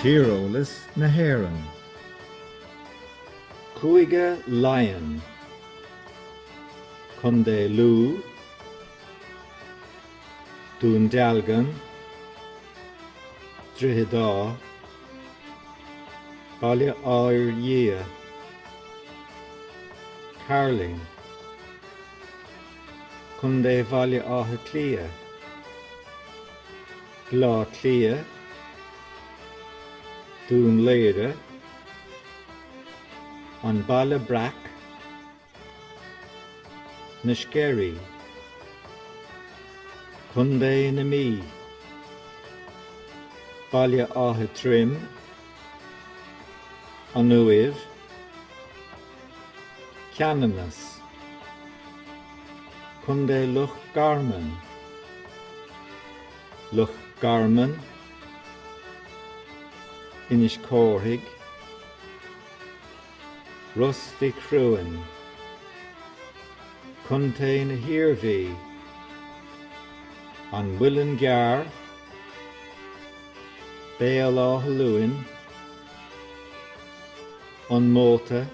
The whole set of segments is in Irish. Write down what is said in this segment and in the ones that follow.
Tíreolas na hÉireann, Cúige Laighean, Contae Lú, Dún Dealgan, Droichead Átha, Baile Átha Fhirdhia, Cairlinn. Contae Bhaile Átha Cliath, Bleá Cliath, Dún Laoghaire, An Baile Breac, Na Sceirí, Contae na Mí, Baile Átha Troim, An Uaimh, Ceanannas, Contae Loch Garman, Loch Garman, Inis Córthaidh, Ros Mhic Thriúin, Contae na hIarmhí, An Muileann gCearr, Baile Átha Luain, An Móta,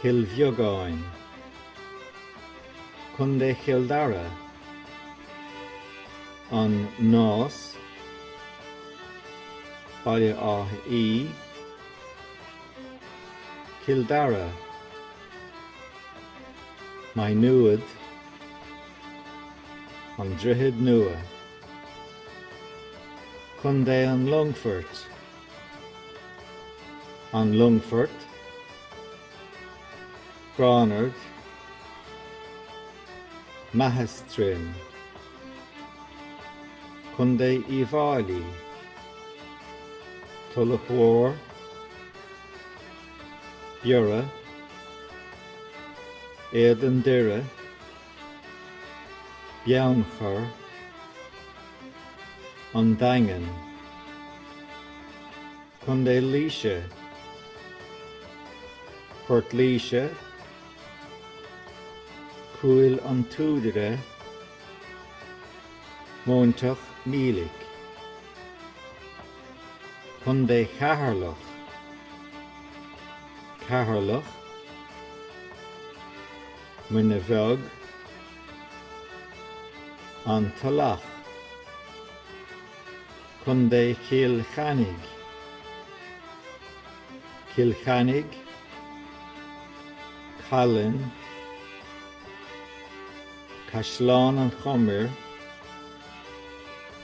Cill Bheagáin, Co. Chill Dara, An Nás, Baile Átha Í, Cill Dara, Maigh Nuad, An Droichead Nua, Co. an Longfoirt. An Longfort, Gránard, Meathas Troim, Co. Uíbh Fhailí, Tulach Mhór, Biorra, Éadan Doire, Beannchar, An Daingean, Co. Laoise, Port Laoise, Cúil an tSúdaire, Móinteach Mílic, Co. Cheatharlach, Ceatharlach, Muine Bheag, An Tulach, Contae Chill Chainnigh, Cill Chainnigh, Callainn, Caisleán an Chomair,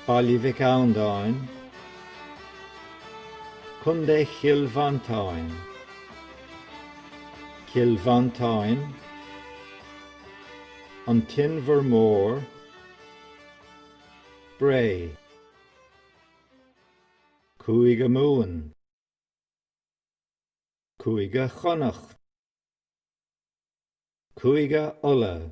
Baile Mhic Andáin, Contae Chill Mhantáin. Cill Mhantáin, An tInbhear Mór, Bré. Cúige Mumhan, Cúige Chonnacht, Cúige Uladh.